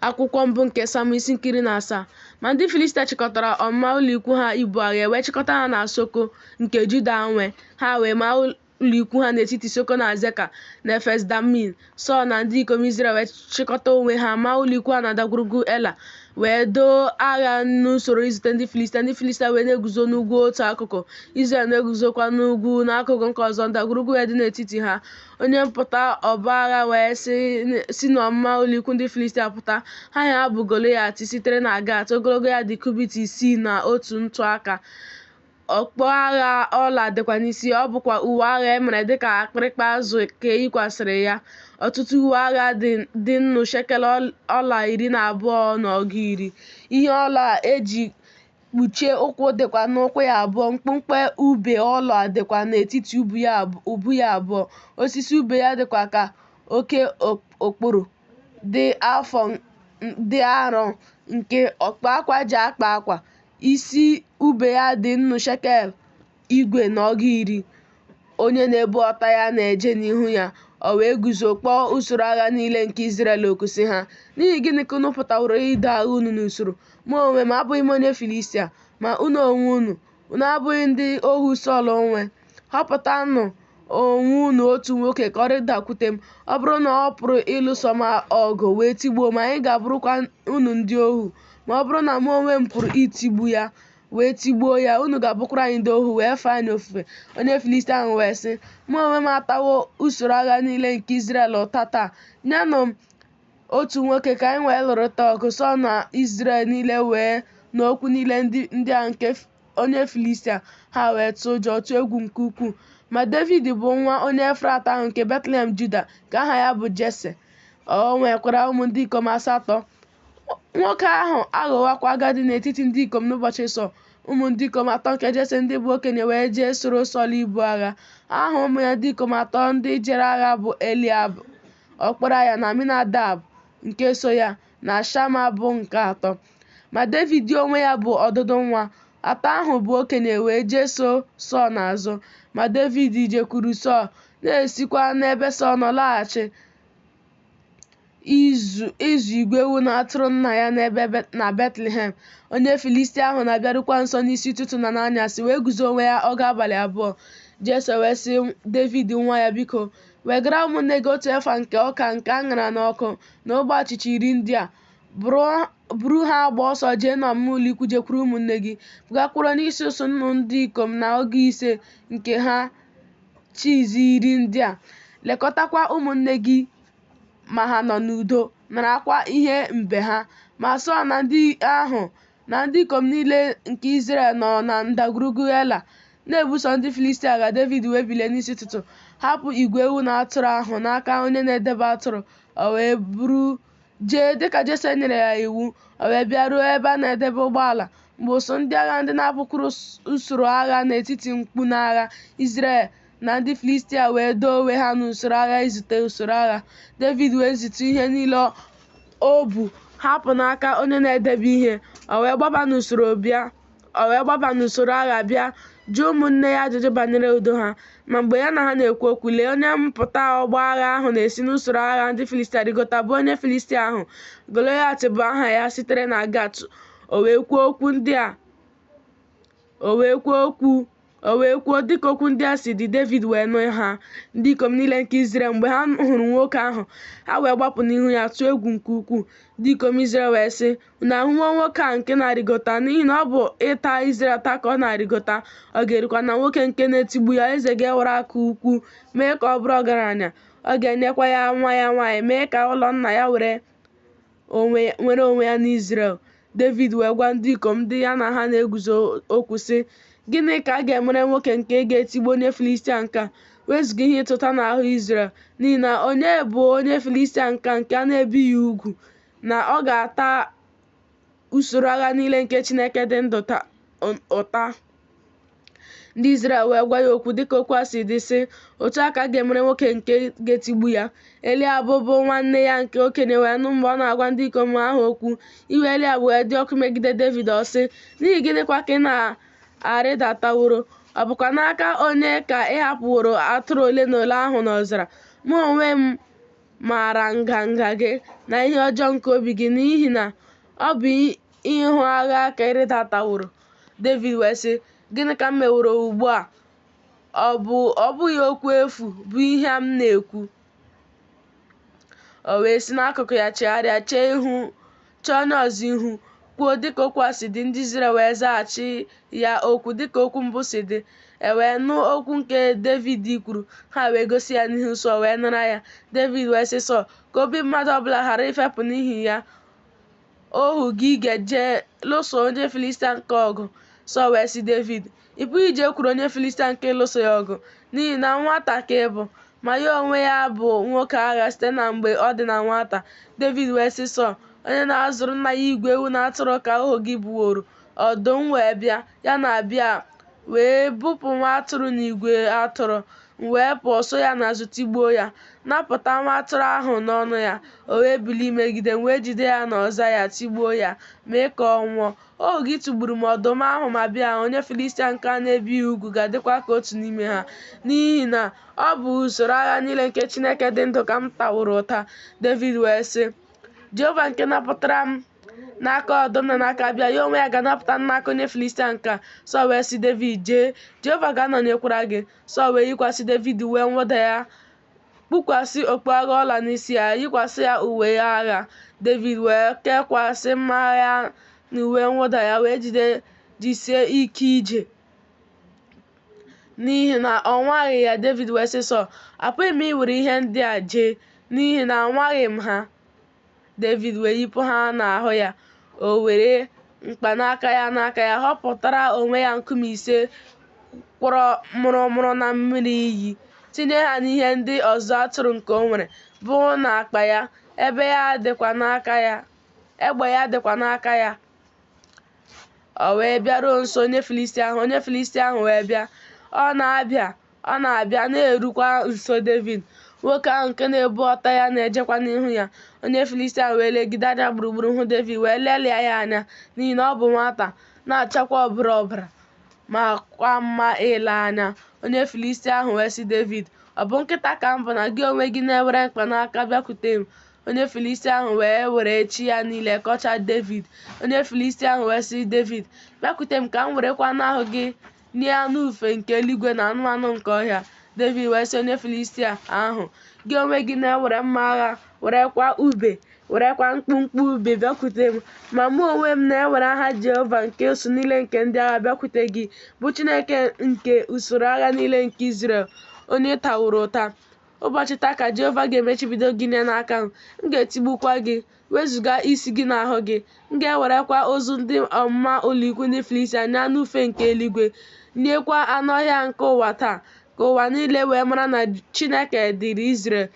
Akwụkwọ mbụ nke Sam isi nke iri na asaa Ma ndị Filistia chịkọtara ọmụma ụlọikwu ha ibu agha e wee chịkọta ha na Soko nke Juda nwe, ha wee maa ụlọikwu ha n'etiti Soko na Azeka na Efes Damim. Sọl na ndị ikom Izrel wee chịkọta onwe ha maa ụlọikwu ha na ndagwurugwu Ela, wee doo agha n'usoro izute ndị Filistia. Ndị Filistia wee na-eguzo n'ugwu otu akụkụ, Izrel na-eguzokwa n'ugwu n'akụkụ nke ọzọ, ndagwurugwu wee dị n'etiti ha. onye mpụta ọgbọ agha wee si si n'ọmụma ụlọikwu ndị Filistia pụta aha ya bụ Golaịat sitere na Gat ogologo ya dị kubit isii na otu ntụaka okpu agha ọla dịkwa n'isi ọ bụkwa uwe agha e mere dịka akpịrịkpa azụ ka e yikwasịrị ya ọtụtụ uwe agha dị nnu shekel ọla iri na abụọ na ọgụ iri ihe ọla eji kpuchie ụkwụ dịkwa n'ụkwụ ya abụọ mkpumkpu ube ọla dịkwa n'etiti ubu ya abụọ osisi ube ya dịkwa ka oke okporo dị afọ dị arọ nke ọkpa akwa ji akpa akwa isi ube ya dị nnu shekel igwe na ọgụ iri, onye na-ebu ọta ya na-eje n'ihu ya, o wee guzo kpọọ usoro agha niile nke Izrel oku sị ha, N'ihi gịnị ka unu pụtaworo ido agha unu n'usoro? Mụ onwe m abụghị m onye Filistia, ma unu onwe unu, unu abụghị ndị ohu Sọl nwe. Họpụtanụ onwe unu otu nwoke ka ọ rịdakwute m. Ọ bụrụ na ọ pụrụ ịlụso m ọgụ wee tigbuo m, anyị ga-abụrụkwa unu ndị ohu. Ma ọ bụrụ na mụ onwe m pụrụ itigbu ya, wee tigbuo ya unu ga-abụkwara anyị ndị ohu wee fee anyị ofufe onye filistia ahụ wee sị mụ onwe m atawo usoro agha niile nke Izrel ụta taa nyenụ m otu nwoke ka anyị wee lụrịta ọgụ Sọl na Izrel niile wee nụ okwu niile ndị a nke onye filistia ha wee tụọ ụjọ tụọ egwu nke ukwuu ma Devid bụ nwa onye Efrat ahụ nke Betlehem Juda nke aha ya bụ Jese o nwekwara ụmụ ndị ikom asatọ Nwoke ahụ aghọwakwa agadi n'etiti ndị ikom n'ụbọchị Sọl. Ụmụ ndị ikom atọ nke Jese ndị bụ okenye wee jee soro Sọl ibu agha. Aha ụmụ ya ndị ikom atọ ndị jere agha bụ Eliab, ọkpara ya, na Aminadab nke so ya, na Shama bụ nke atọ. Ma Devid onwe ya bụ ọdụdụ nwa. Atọ ahụ bụ okenye wee jee so Sọl n'azụ. Ma Devid jekwuru Sọl, na-esikwa n'ebe Sọl nọ laghachi. ịzụ igwe ewu na atụrụ nna ya n'ebe na Betlehem. Onye Filistia ahụ na-abịarukwa nso n'isi ụtụtụ na n'anyasị wee guzo onwe ya ọgụ abalị abụọ. Jese wee sị Devid nwa ya, Biko, wegara ụmụnne gị otu efa nke ọka nke a ṅara n'ọkụ na ogbe achịcha iri ndị a. Buru ha gbaa ọsọ jee n'ọmụma ụlọ ikwu jekwuru ụmụnne gị, bugakwuru onye isi usuu nnụ ndị ikom na ọgụ ise nke ha chiizi iri ndị a, lekọtakwa ụmụnne gị ma ha nọ n'udo, narakwa ihe mbe ha. Ma Sọl na ndị ahụ na ndị ikom niile nke Izrel nọ na ndagwurugwu Ela na-ebuso ndị Filistia agha. Devid wee bilie n'isi ụtụtụ, hapụ igwe ewu na atụrụ ahụ n'aka onye na-edebe atụrụ, o wee buru Jee, dị ka Jese nyere ya iwu, o wee bịaruo ebe a na-edebe ụgbọala mgbe usu ndị agha ndị na-apụkwuru usoro agha n'etiti mkpu n'agha Izrel na ndị Filistia wee doo onwe ha n'usoro agha izute usoro agha. Devid wee zitu ihe niile o bu hapụ n'aka onye na-edebe ihe, o wee gbaba n'usoro bịa. O wee gbaba n'usoro agha bịa jụọ ụmụnne ya ajụjụ banyere udo ha. Ma mgbe ya na ha na-ekwu okwu, lee onye mpụta ọgbọ agha ahụ na-esi n'usoro agha ndị Filistia rịgota bụ onye Filistia ahụ, Golaịat bụ aha ya sitere na Gat. O wee kwuo okwu ndị a. O wee kwuo okwu. O wee kwuo, dịka okwu ndị a si dị, Devid wee nụ ha, ndị ikom niile nke Izrel, mgbe ha hụrụ nwoke ahụ, ha wee gbapụ n'ihu ya tụọ egwu nke ukwuu. Ndị ikom Izrel wee sị, Unu ahụwo nwoke a nke na-arịgota? N'ihi na ọ bụ ịta Izrel ụta ka ọ na-arịgota, ọ ga-erukwa na nwoke nke na-etigbu ya, eze ga-ewere akụ ukwu mee ka ọ bụrụ ọgaranya, ọ ga-enyekwa ya nwa ya nwaanyị, mee ka ụlọ nna ya were nwere onwe ya n'Izrel. Devid wee gwa ndị ikom ndị ya na ha na-eguzo okwu sị, Gịnị ka a ga-emere nwoke nke ga-etigbu onye Filistia nke a? Wezuga ihe ịta ụta n'ahụ Izrel, n'ihi na onye bụ onye Filistia nke a nke a na-ebighị ugwu na ọ ga-ata usoro agha niile nke Chineke dị ndụ ụta? ndị Izrel wee gwa ya okwu dịka okwu a si dị sị otu a ka a ga-emere nwoke nke ga-etigbu ya Eliab bụ nwanne ya nke okenye wee nụ mgbe ọ na-agwa ndị ikom ahụ okwu iwe Eliab wee dị ọkụ megide Devid ọ sị n'ihi gịnịkwa ka ị na-arịdataworo ọ bụkwa n'aka onye ka ị hapụworo atụrụ ole na ole ahụ n'ọzara mụ onwe m maara nganga gị na ihe ọjọọ nke obi gị n'ihi na ọ bụ Ịhụ agha ka ị rịdataworo. Devid wee sị, Gịnị ka m meworo ugbu a? Ọ bụ ọ bụghị okwu efu bụ ihe m na-ekwu? O wee si n'akụkụ ya chigharịa, chee ihu, chee onye ọzọ ihu, kwuo dịka okwu a si dị, ndị Izrel wee zaghachi ya okwu dịka okwu mbụ si dị. E wee nụ okwu nke Devid kwuru, ha wee gosi ya n'ihu Sọl wee nara ya. Devid wee sị Sọl, Ka obi mmadụ ọbụla ghara ifepụ n'ihi ya. ohu gị ga-eje lụso onye Filistia nke a ọgụ. Sọl wee sị Devid, Ị pụghị ijekwuru onye Filistia nke a ịlụso ya ọgụ, n'ihi na nwata ka ị bụ, ma ya onwe ya bụ nwoke agha site na mgbe ọ dị na nwata. Devid wee sị Sọl, Onye na-azụrụ nna ya igwe ewu na atụrụ ka ohu gị bụworo. Ọdụm wee bịa. ya na bịa wee bupụ nwa atụrụ n'igwe atụrụ m wee pụọ so ya n'azụ tigbuo ya napụta nwa atụrụ ahụ n'ọnụ ya o wee bilie imegide m m wee jide ya n'ọza ya tigbuo ya mee ka ọ nwụọ ohu gị tigburu ma ọdụm ahụ ma bịa onye filistia nke a na-ebighị ugwu ga-adịkwa ka otu n'ime ha n'ihi na ọ bụ usoro agha niile nke chineke dị ndụ ka m taworo ụta david wee sị jehova nke napụtara m n'aka ọdụm na n'aka bịa ya onwe ya ga-anapụta m n'aka onye filistia nke a sọl wee sị david jee jehova ga-anọnyekwara gị sọl wee yikwasị david uwe mwụda ya kpukwasị okpu agha ọla n'isi ya yikwasị ya uwe agha david wee kekwasị mma agha ya n'uwe mwụda ya wee ji jisie ike ije n'ihi na ọ nwaghị ya Devid wee sị Sọl apụghị m iwere ihe ndị a jee n'ihi na anwaghị m ha Devid wee yipụ ha n'ahụ ya o were mkpanaka ya n'aka ya họpụtara onwe ya nkume ise kwọrọ mụrụmụrụ na mmiri iyi tinye ha n'ihe ndị ọzụzụ atụrụ nke o nwere bụ n'akpa ya ebe ya egbe ya dịkwa n'aka ya o wee bịaruo nso onye Filistia ahụ onye Filistia ahụ wee bịa na ọ na-abịa na-erukwa nso Devid nwoke ahụ nke na-ebu ọta ya na-ejekwa n'ihu ya onye Filistia ahụ wee legide anya gburugburu hụ Devid wee lelịa ya anya n'ihi na ọ bụ nwata na-achakwa ọbara ọbara makwa mma ile anya onye Filistia ahụ wee sị Devid ọ bụ nkịta ka m bụ na gị onwe gị na-ewere mkpanaka bịakwute m Onye Filistia ahụ wee were chi ya niile kọchaa Devid. Onye Filistia ahụ wee sị Devid, Bịakwute m ka m werekwa anụ ahụ gị nye anụ ufe nke eluigwe na anụmanụ nke ọhịa. Devid wee sị onye Filistia ahụ, Gị onwe gị na-ewere mma agha, werekwa ube, werekwa mkpụmkpụ ube bịakwute m. Ma mụ onwe m na-ewere aha Jehova nke usuu niile nke ndị agha bịakwute gị, bụ Chineke nke usoro agha niile nke Izrel, onye taworo ụta. Ụbọchị taa ka Jehova ga-emechibido gị nye n'aka m, m ga-etigbukwa gị, wezụga isi gị n'ahụ gị. M ga-ewerekwa ozu ndị ọmụma ụlọikwu ndị Filistia nye anụ ufe nke eluigwe, nyekwa anụ ọhịa nke ụwa taa, ka ụwa niile wee mara na Chineke dịrị Izrel,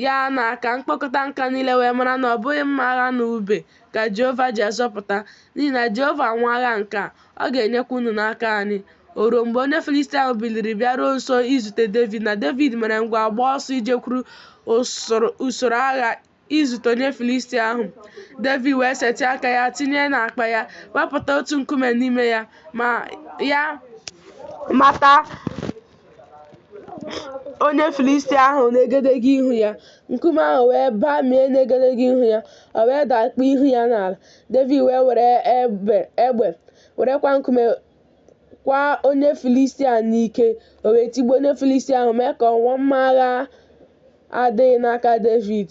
ya na ka mkpọkọta nke a niile wee mara na ọ bụghị mma agha na ube ka Jehova ji azọpụta, n'ihi na Jehova nwe agha nke a. Ọ ga-enyekwa unu n'aka anyị. O ruo mgbe onye Filistia ahụ biliri bịaruo nso izute Devid na Devid mere ngwa gbaa ọsọ ijekwuru usoro agha izute onye Filistia ahụ. Devid wee setịa aka ya tinye n'akpa ya, wepụta otu nkume n'ime ya, ma ya mata onye Filistia ahụ n'egedege ihu ya. Nkume ahụ wee bamie n'egedege ihu ya, o wee dakpuo ihu ya n'ala. Devid wee were egbe werekwa nkume kwa onye Filistia n'ike, o wee tigbuo onye Filistia ahụ mee ka ọ nwụọ, ma mma agha adịghị n'aka Devid.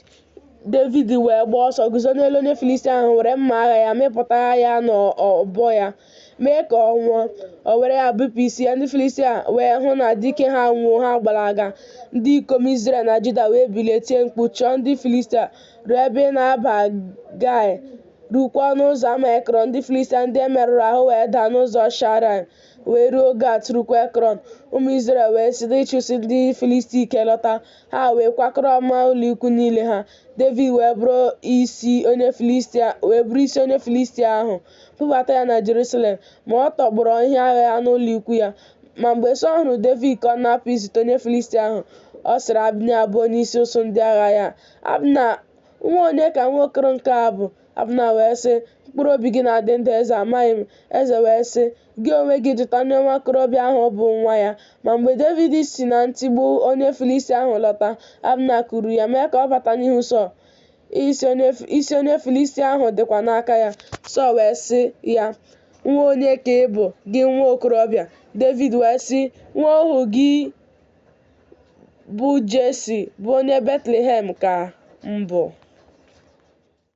Devid wee gbaa ọsọ guzo n'elu onye Filistia ahụ were mma agha ya mịpụta ya n'ọbọ ya. mee ka ọ nwụọ o were ya bipụ isi ya ndị filistia wee hụ na dike ha anwụwo ha gbalaga ndị ikom izrel na juda wee bilie tie mkpu chụọ ndị filistia ruo ebe ị na-aba gai rukwaa n'ụzọ ama ekrọn ndị filistia ndị e merụrụ ahụ wee daa n'ụzọ shaaraim wee ruo gat rukwa ekrọn ụmụ izrel wee site ịchụsi ndị filistia ike lọta ha wee kwakọrọ ọmụma ụlọikwu niile ha david wee buru isi onye filistia ahụ bubata ya na Jerusalem, ma ọ tọgbọrọ ihe agha ya n'ụlọ ikwu ya. Ma mgbe Sọl hụrụ Devid ka ọ na-apụ izute onye Filistia ahụ, ọ sịrị Abna bụ onyeisi usuu ndị agha ya, Abna, nwa onye ka nwa okoro nke a bụ? Abna wee sị, Mkpụrụ obi gị na-adị ndụ, eze, amaghị m. Eze wee sị, Gị onwe gị jụta onye nwa okorobịa ahụ bụ nwa ya. Ma mgbe Devid si na ntigbu onye Filistia ahụ lọta, Abna kuuru ya, mee ka ọ bata n'ihu Sọl. isi onye Filistia ahụ dịkwa n'aka ya. Sọl wee sị ya, Nwa onye ka ị bụ, gị nwa okorobịa? Devid wee sị, Nwa ohu gị bụ Jesi, bụ onye Betlehem ka m bụ.